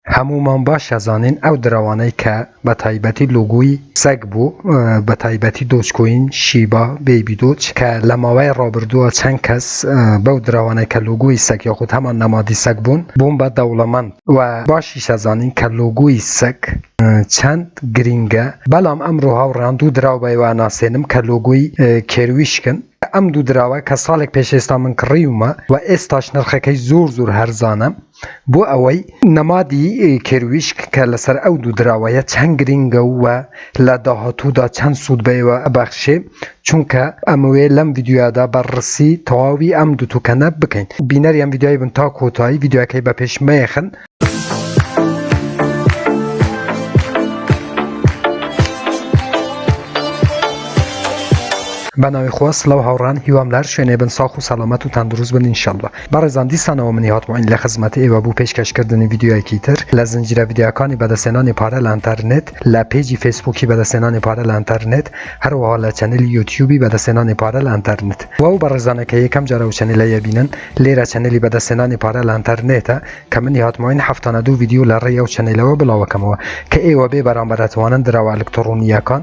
هەموومان باش ئەزانین ئەو دراوانەی کە بە تایبەتی لۆگۆی سەگ بوو بە تایبەتی دۆج کۆین، شیبا، بەیبی دۆج کە لە ماوەی ڕابردووە چەند کەس بەو دراوانەی کە لۆگۆی سەگ یاخود هەمان نەمادی سەگ بوون، بوون بە دەوڵەمەند و باشیش ئەزانین کە لۆگۆی سەگ چەند گرینگە، بەڵام ئەمڕۆ هاوڕێیان دوو دراو بە ئێوە ئەناسێنم کە لۆگۆی کێرویشکن، ئەم دوو دراوە کە ساڵێک پێش ئێستا من کڕیومە و ئێستاش نرخەکەی زۆر زۆر هەرزانە. بۆ ئەوەی نەمادی کێرویشک کە لەسەر ئەو دوو دراوەیە چەند گرینگە و لە داهاتوودا چەند سوود بەێوە ئەبەخشێ چونکە ئەمەوێ لەم ڤیدیۆیادا بە ڕسی تەواوی ئەم دوو توکەنە بکەین بینەری ئەم ڤیدیۆی بن تا کۆتایی ڤیدیۆکەی بە پێش مەیەخن بەناوی خۆس لەو هاوڕان هیوام لار شوێنێ بن ساخ و سەلامەت و تەندروست بن انشاءاللە بەڕێزان دیسانەوە منی هاتمۆین لە خزمەت ئێوە بو پێشکەش کردنی ڤیدیۆیەکی تر لە زنجیرە ڤیدیۆیەکانی بەدەستهێنانی پارە لە ئەنتەرنێت لە پێجی فەیسبوکی بەدەستهێنانی پارە لە ئەنتەرنێت هەروەها لە چەنێلی یوتیوبی بەدەستهێنانی پارە لە ئەنتەرنێت بۆ ئەو بەڕێزانە کە یەکەم جار ئەو چەنێلەیە بینن لێرە چەنێلی بەدەستهێنانی پارە لە ئەنتەرنێتە کە منی هاتمۆین هەفتانە دوو ڤیدیۆ لە ڕێی ئەو چەنێلەوە بڵاوەکەمەوە کە ئێوە بێ بەرامبەر ئەتوانن دراوە ئەلکتڕۆنییەکان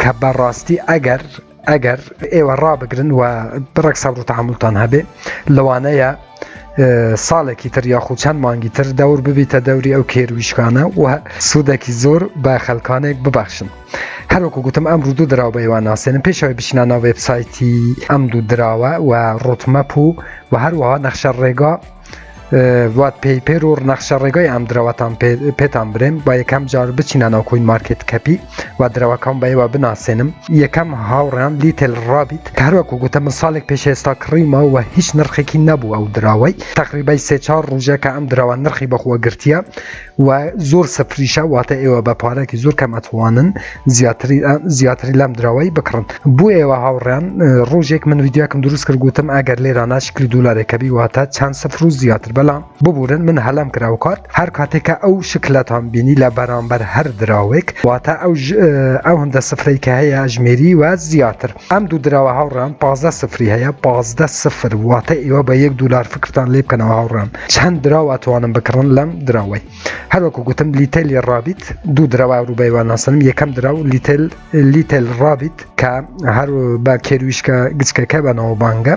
کە بە ڕاستی ئەگەر ئەگەر ئێوە ڕابگرن و بڕێک سەبر و تحملتان هەبێ لەوانەیە ساڵێکی تر یاخود چەند مانگی تر دەور ببیتە دەوری ئەو کێرویشکانە و سوودێکی زۆر بە خەلکانێک ببەخشن هەروکو گوتم ئەم ڕوودو دراو بە ئێوان ناسێنم پێشەوەی بچینە ناو وبسایتی ئەم دوو دراوە و ڕوتمەپ و و هەروەها نەخشە ڕێگا وات پێیپەر و نەخشە ڕێگای ئەم درەوەتان پێتان برێن با یەکەم جار بچینانەوە کوین مارکت کەپی و درەوەکەم بەیوە بناسێنم یەکەم هاوڕیان لیتل ڕابیت هەروەکو گوتە من ساڵێک پێش ئێستا کڕیمە و هیچ نرخێکی نەبوو ئەو دراوەی تقریبای سێ چار ڕژە کە ئەم درەوە نرخی بەخوە گرتیە و زۆر سفریشە واتە ئێوە بە پارێکی زۆر کەم ئەتوانن زیاتری لەم دراوایی بکڕن بۆ ئێوە هاوڕیان ڕۆژێک من ویددیوکم دروست کرد گوتم ئەگەر لێرا ناشکلی دولارێکەبی واتە چەند سفر و زیاتر بەڵام ببورن من هەلم کرا و کارت هەر کاتێکە ئەو شکلەتان بینی لە بەرامبەر هەر دراوێک واتە ئەو ئەو هەندە سفرەی کە هەیە ژمێری و زیاتر ئەم دوو دراوە هاوڕان پازدە سفری هەیە پازدە سفر واتە ئێوە بە یەک دولار فکرتان لێ بکەنەوە هاوڕان چەند دراو ئەتوانم بکڕن لەم دراوەی هەروەکو گوتم لیتەلی ڕابیت دوو دراوە ڕوبەیوان ناسنم یەکەم دراو لیتل لیتل ڕابیت کە هەر بە کێرویشکە گچکەکە بەنەوە بانگە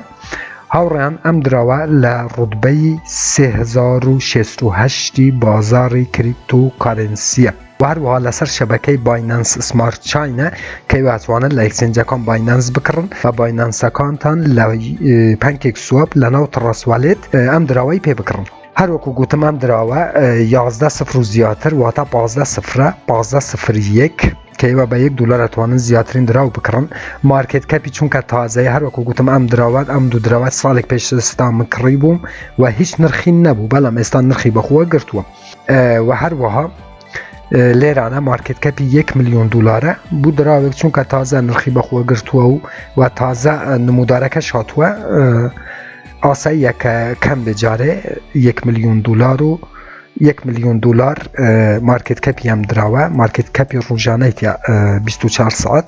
هاوڕیان ئەم دراوە لە ڕودبەی 1970 بازاری کریپت و کارنسیە و هەروەها لەسەر شەبەکەی باینانس سمارت چاینە کەی واتوانن لە ئەکسنجەکان باینانس بکڕن و باینانسەکانتان لە پەنکێک سواب لە ناو تڕەسوالێت ئەم دراوەی پێ بکڕن هەروەکو گوتم ئەم دراوە یازدە سفر و زیاتر واتە پازدە سفرە پازدە سفر یەک کەیوە بە یەک دلار توانن زیاترین دراو بکڕن مارکت کەپی چونکە تازای هەروەکو گوتم ئەم دراوات ئەم دوو دراوات ساڵێک پێشستا مکڕی بووم و هیچ نرخین نەبوو بەڵام ئێستا نرخی بەخۆوە گرتووە و هەروەها لێرانە مارکت کەپی 1 میلیۆن دلارە بوو دراوێک چونکە تازە نرخی بەخۆ گرتووە و و تازە نمودارەکە شاتووە ئاساییە کە کەم بێجارێ 1 میلیۆن دلار و 1 میلیۆن دلار مارکت کەپی ئەم دراوە مارکت کەپی ڕژانەی 24 ساعت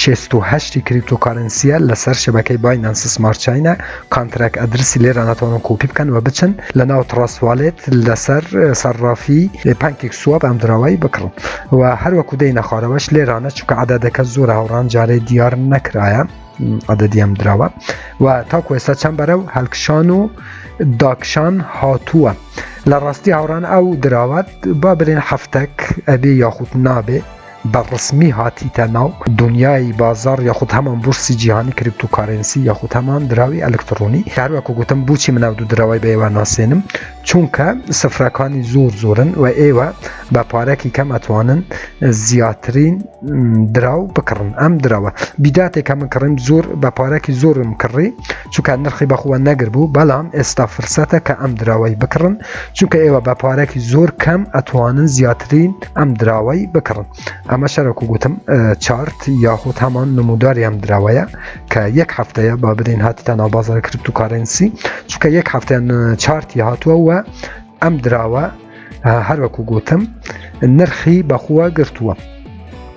شێست و هەشتی کریپتۆکارنسیە لەسەر شەبەکەی باینانس سمارت چینە کانتراک ئەدرسی لێرە ناتوانن کۆپی بکەن و بچن لە ناو تڕاستوالێت لەسەر سەرڕافی پانکێک سواب ئەم دراوایی بکڕن و هەروەکو دەی نەخوارەوەش لێرانە چکە عادەدەکە زۆر هاوڕان جارێ دیار نەکرایە عادەدیەم دراوە و تاکو ئێستا چەند بەرە و هەلکشان و داکشان هاتووە لە ڕاستی هاوڕان ئەو دراوات با برێن هەفتەک ئەبێ یاخود نابێ بە ڕەسمی هاتیتە ناو دونیای بازاڕ یاخود هەمان بورسی جیهانی کریپتو کارێنسی یاخود هەمان دراوی ئەلکتڕۆنی کە هەروەکو گوتم بوچی من ئەو دوو دراوەی بە ئێوە ناسێنم چونکە سفرەکانی زۆر زۆرن و ئێوە بە پارەکی کەم ئەتوانن زیاترین دراو بکڕن ئەم دراوە بیداتێک کە من کڕیم زۆر بە پارەکی زۆرم کڕی چونکە نرخی بەخووە نەگربوو بەڵام ئێستا فرسەتە کە ئەم دراوەی بکڕن چونکە ئێوە بە پارێکی زۆر کەم ئەتوانن زیاترین ئەم دراوەی بکڕن ئەمە شەرەک و گوتم چارت یاخود هەمان نموداری ئەم دراوەیە کە یەک هەفتەیە با بدەین هاتیتە ناو بازار کرپت و کارەنسی چونکە یەک هەفتیان چارتی هاتووە و ئەم دراوە هەروەکو گوتم نرخی بەخووە گرتووە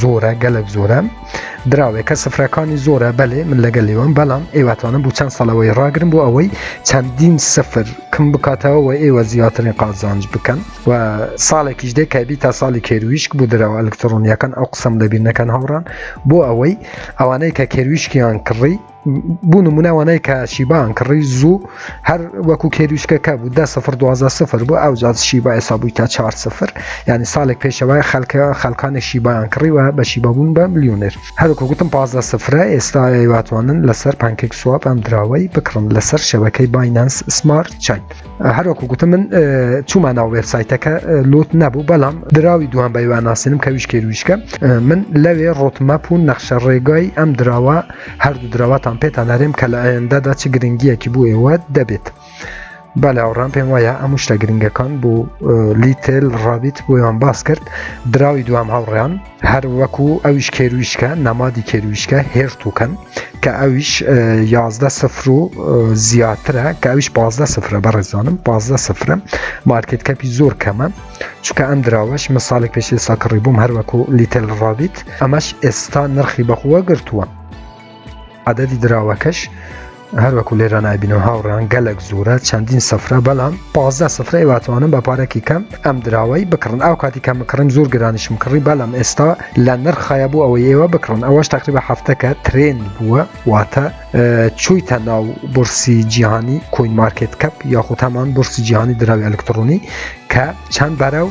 زۆرە گەلک زۆرە دراوێکە سفرەکانی زۆرە بەلێ من لەگەل لێوان بەڵام ئێواتوانم بوو چەند سەڵەوەی ڕاگرم بۆ ئەوەی چەندین سفر کم بکاتەوە و ئێوە زیاترین قازانج بکەن و ساڵێکیش دێ کەبی تا ساڵی کێرویشک بوو درەوە ئەلکترۆنیەکان ئەو قسم لەبییر نەکەن هاوڕان بۆ ئەوەی ئەوانەی کە کێرویشکیان کڕی بوو نمونە وانای کاچی بان کڕی زوو هەر وەکو کێریشکەکە بوو دە سفر دوازە سفر بوو ئەو جات شیبا ئێستا بووی تا چهار سفر یعنی ساڵێک پێشەوەی خەلکە خەلکانی شیبایان کڕیوە بە شیبا بوون بە ملیونێر هەروکو گوتم پازدە سفرە ئێستا واتوانن لەسەر پانکێک سواب ئەم دراوەی بکڕن لەسەر شەوەکەی بایننس سمارت چین. هەروەکو گوتم من چوومان ناو وێبسایتەکە لوت نەبوو بەڵام دراوی دوان بەیوان ناسیێنم کە ویشکێ ویشکە من لەوێ ڕۆتمەپ و نەخشە ڕێگای ئەم دراوە هەردوو دراوەتان پێتان نارێم کە لە ئایندەدا چ گرنگیەکی بۆ ئێوە دەبێت. بەلاوڕام پێم وایە ئەم شتە گرنگەکان بۆ لیتل ڕابیت بۆیان باس کرد دراوی دوام هاوڕیان هەر وەکو ئەویش کێرویشکە نەمادی کێرویشکە هێرتوکەن کە ئەویش یازدە سفر و زیاترە کە ئەویش پازدە سفرە بەڕێزانم پازدە سفرە مارکت کەپی زۆر کەمە چکە ئەم دراوەش من ساڵی پێشی ساکڕی بووم هەر وەکو لیتل ڕابیت ئەمەش ئێستا نرخی بەخووە گرتووە عددی دراوەکەش هەروەکو لێرا نبینەوە هاوڕان گەلک زورە چەندین سفرە بەڵام پازدە سفرەی واتوانم بە پارەکی کەم ئەم دراوەی بکڕن ئەو کاتی کەم کڕیم زۆر گرانیشم کڕی بەڵام ئێستا لە نرخایە بوو ئەوەی ئێوە بکڕن ئەوەش تقریبا هەفتەکە ترێن بووە واتە چویتە ناو برسی جیهانی کۆین مارکت کەپ یاخود هەمان برسی جیهانی دراوی ئەلکترۆنی کە چەند بەرە و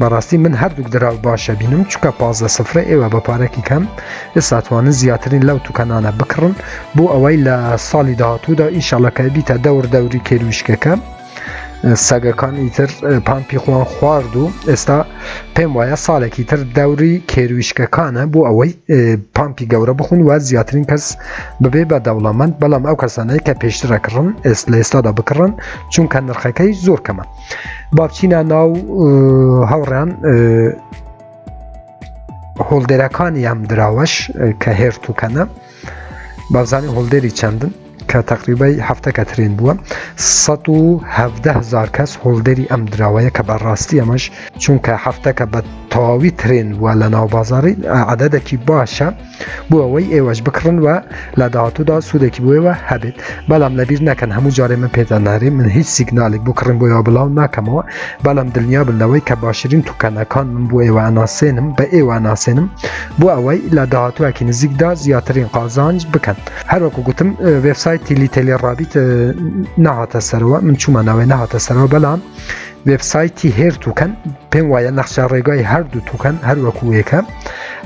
بەڕاستی من هەردووک دراو باش ئەبینم چونکە پازدە سفرە ئێوە بە پارەکی کەم ئێستا توانن زیاترین لەو توکەنانە بکڕن بۆ ئەوەی لە ساڵی داهاتوودا ئینشاڵە کە بیتە دەور دەوری کێرویشکەکە سەگەکان ئیتر پامپی خۆیان خوارد و ئێستا پێم وایە ساڵێکی تر دەوری کێرویشکەکانە بۆ ئەوەی پامپی گەورە بخون و زیاترین کەس ببێ بە دەوڵەمەند بەڵام ئەو کەسانەی کە پێشترە کڕن ئێست لە ئێستادا بکڕن چونکە نرخەکەی زۆر کەمە بابچینە ناو هەوڕان هۆڵدێرەکانی ئەم دراوەش کە هێرت و کەنە بابزانانی هۆڵدێری چەندن کە تقریبای هەفتە کە ترێن بووە 1970هزار کەس هۆڵدەری ئەم دراوەیە کە بەڕاستی ئەمەش چونکە هەفتەکە بە تەواوی ترێن وە لە ناو بازاری عادەدەکی باشە بۆ ئەوەی ئێوەش بکڕن و لە داهاتوودا سوودێکی بۆیەوە هەبێت بەڵام لەبیر نەکەن هەموو جارێ من پێداننارێ من هیچ سیگنالێک بۆ کڕین بۆیەوە بڵاو ناکەمەوە بەڵام دڵنیا بن لەوەی کە باشترین توکەنەکان من بۆ ئێوە ئەناسێنم بە ئێوە ناسێنم بۆ ئەوەی لە داهاتووەکی نزیکدا زیاترین قازانج بکەن هەروەکو گوتم وێبسایت تیلی تێلی ڕابیت نەهاتە سەرەوە من چوومە ناوێ نەهاتە سەرەوە بەڵام وێبسایتی هێر توکەن پێم وایە نەخشە ڕێگای هەردوو توکەن هەروەکوەکە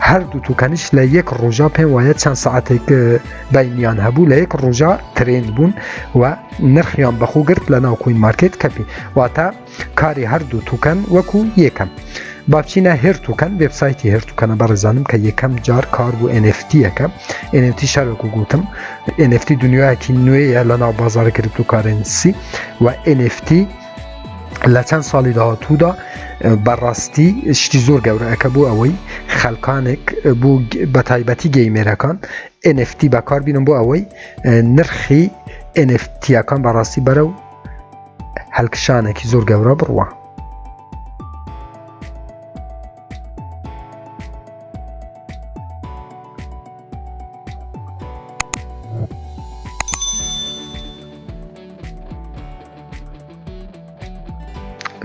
هەردوو توکەنیش لە یەک ڕۆژە پێم وایە چەند ساعتێک بینیان هەبوو لە یەک ڕۆژە ترێن بوون و نرخیان بەخۆ گرت لە ناو کوین مارکت کەپی واتە کاری هەردوو توکەن وەکو یەکەم. بابچینە هێرتوکەن وبسایتی هێرتوکەنە بەڕێزانم کە یەکەم جار کار بوو NFTەکە NFT شارێک و گوتم NFT دنیایەکی نوێیە لە ناو بازار گرتوکارنسی و NFT لە چەند ساڵی داهاتوودا بەڕاستی شتی زۆر گەورەەکە بوو ئەوەی خەلکانێک بوو بە تایبەتی گەیمێرەکان NFT بەکار بینم بۆ ئەوەی نرخی NFTەکان بەڕاستی بەرە و هەلکشانێکی زۆر گەورە بڕوە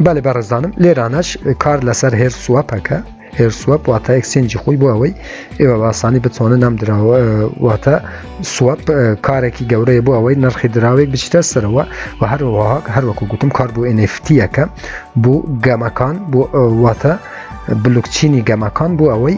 بەێ بەڕێزانم لێرانەش کار لەسەر هێر سووەپەکە هێر سووەپ واتە ئەکسنجی خۆی بۆ ئەوەی ئێوە باسانی بتوانن نام دراوە واتە سووەپ کارێکی گەورەیە بۆ ئەوەی نرخی دراوێک بچیتە سەرەوە و هەروەها هەروەکو گوتم کار بۆ ئەنفتیەکە بۆ گەمەکان بۆ واتە بلوکچینی گەمەکان بۆ ئەوەی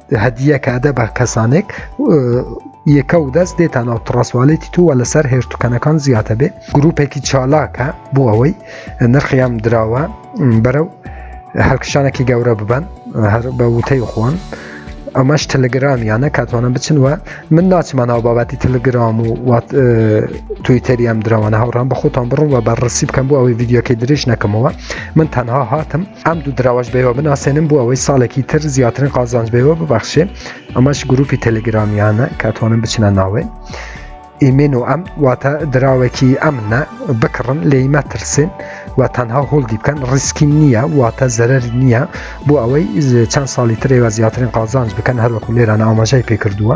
هەدیە کادە بە کەسانێک یەکە و دەست دێتانەوە تڕسوالێتی تووە لەسەر هێشتوکەنەکان زیاتە بێ گروپێکی چالاکە بۆ ئەوەی نرخیان دراوە بەرەو هەلکشانێکی گەورە ببن هەر بە وتەی خۆن ئەمەش تەلگرامیانە کاتوانە بچن وە من ناچمانەوە بابەتی تەلگرام و وات تویتەری ئەم درەوانە هاوڕان بە خۆتان بڕوە بە ڕسی بکەم بۆ ئەوەی یددیوکەی درێژ نەکەمەوە من تەنها هاتم ئەم دوو دراوەش بەوە بناسێنم بۆ ئەوەی ساڵێکی تر زیاترین قازانج بەوە ببەخشێ ئەمەش گروپی تەلگرامیانە کاتوانم بچنە ناوێ ئیمێن و ئەم واتە دراوێکی ئەمنە بکڕن لێیمە ترسێن و تەنها هۆڵدی بکەن ڕیسکی نییە واتە زەرەر نییە بۆ ئەوەی چەند ساڵی ترێوە زیاترین قازانج بکەن هەروەکو لێران ئاماژای پێکردووە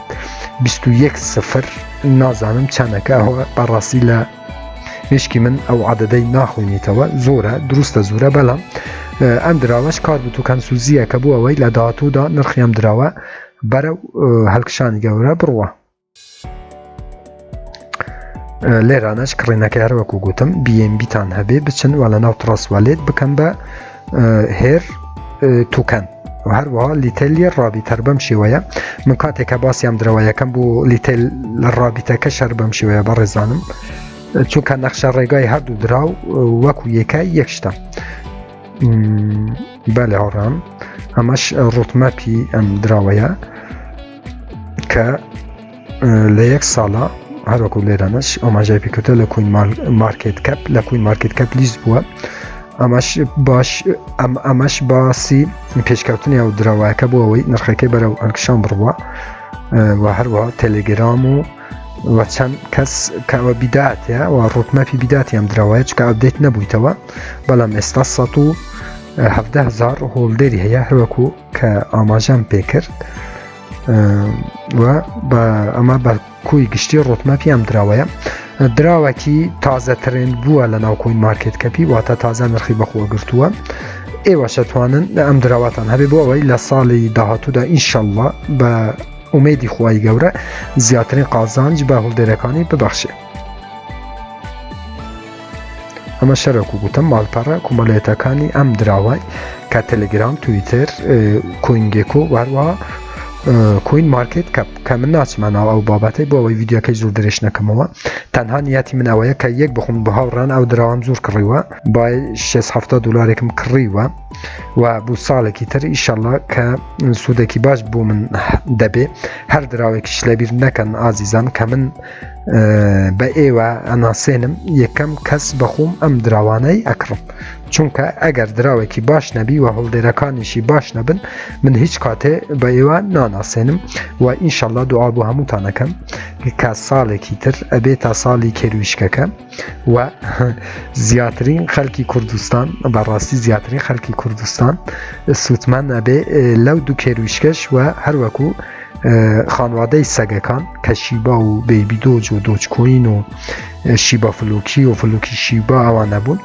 بیست و یەک سفر نازانم چەندەکە ئەوە بەڕاستی لە مشکی من ئەو عادەدەی ناخۆینیتەوە زۆرە دروستە زورە بەڵام ئەم دراوەش کار بوو و کەنسوزیە کە بوو ئەوەی لە داهاتوودا نرخیام دراوە بەرە هەلکشانی گەورە بڕوە لێرانەش کڕینەکە هەروەکو گوتم بیتان هەبێ بچن وە لە ناو تڕسوالێت بکەم بە هێر توکەن هەروە لیتەلی ڕابیت هەر بەم شێوەیە من کاتێک کە باسیام درەوە یەکەم بۆ لیتل لە ڕابیتەکە شەر بەم شێوەیە بە ڕێزانم چونکە نەخشە ڕێگای هەردوو دراو وەکو یەکای یەکشتە بە لە هەڕام ئەمەش ڕوتمەپی ئەم دراوەیە کە لە یەک ساڵە هەروەکو لێرانەش ئەماژای پێکوتە لە کوین مارکت کەپ لە کوین مارکت کەپ لیست بووە ئەمەش باش ئەم ئەمەش باسی پێشکەوتنی ئەو درەوایەکە بۆ ئەوەی نرخەکەی بەرەو ئەنکشان بڕوە و هەروە تەلگرام و و چەند کەس کەوە بیداتە و ڕوتمەپی بیداتی ئەم درەوەیە چکە ئەبدەیت نەبوویتەوە بەڵام ئێستا 1970 هزار هۆڵدەری هەیە هەروەکو کە ئاماژەم پێکرد و بە ئەمە بە کۆی گشتی ڕۆتمەپیان دراوەیە دراوەکی تازە ترند بووە لە ناوکۆین مارکت کەپی واتە تازە نرخی بەخۆ گرتووە ئێوە شەتوانن لە ئەم دراواتان هەبێ بۆ ئەوەی لە ساڵی داهاتوودا ئینشەڵە بە ئومێدی خی گەورە زیاترین قازانج بە هەڵدێرەکانی ببەخشێ ئەمە شەرەک و گوتم ماڵپەڕە کومەلێتەکانی ئەم دراوای کە تەلگرام تویتر کوینگێکۆ واروا کوین مارکت کە کە من ناچمانەوە ئەو بابەتی بۆ ئەوەی یددیوەکەی زۆر درێژ نەکەمەوە تەنها یاتی منەوەیە کە یەک بخون بە هاوڕان ئەو دراوام زۆر کڕیوە با 670 دلارێکم کڕیوە و بۆ ساڵێکی تر ئیشەڵە کە سوودێکی باش بۆ من دەبێ هەر دراوێکیش لەبیر نەکەن ئازیزان کە من بە ئێوە ئەناسێنم یەکەم کەس بەخوم ئەم دراوانەی ئەکڕم چونکە ئەگەر دراوێکی باش نەبی و هەڵدێرەکانیشی باش نەبن من هیچ کاتێ بە ئێوە ناناسێنم و ئینشەڵا دوعا بۆ هەمووتانەکەم کە ساڵێکی تر ئەبێ تا ساڵی کێرویشکەکە و زیاترین خەلکی کوردستان بەڕاستی زیاترین خەلکی کوردستان سووتمان نابێ لەو دوو کێرویشکەش و هەروەکو خانوادەی سەگەکان کە شیبا و بێبی دۆج و دۆچکۆین و شیبا فلوکی و فلوکی شیبا ئەوانە بوون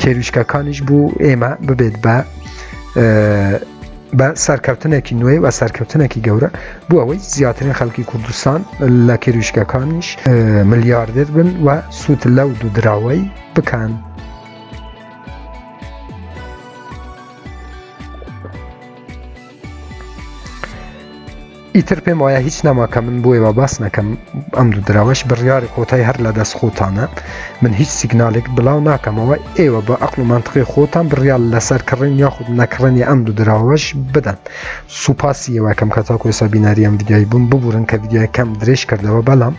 کێرویشکەکانیش بوو ئێمە ببێت بە بە سەرکەوتنێکی نوێ و سەرکەوتنێکی گەورە بۆ ئەوەی زیاترین خەڵکی کوردستان لە کێرویشکەکانیش ملیاردێت بن و سووت لەو دوودراوەی بکەن. ئیتر پێم وایە هیچ نەما کە من بۆیەوە باس نەکەم ئەم دوو دراوەش بڕیاری کۆتای هەر لە دەست خۆتانە من هیچ سیگنالێک بڵاو ناکەمەوە ئێوە بە ئەقل و منطقی خۆتان بڕیال لەسەر کڕین یاخود نەکڕنی ئەم دوو دراوەش بدەن سوپاسی یەوەکەم کە تاکو ئێستا بیناری ئەم ویددیای بووم ببورن کە ویددیای کەم درێژ کردەوە بەڵام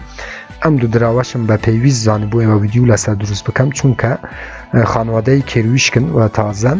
ئەم دوو دراوەشم بە پێویست زانبووەوە ویددیو لەسەر دروست بکەم چونکە خانوادەی کێرویشکن و تازەن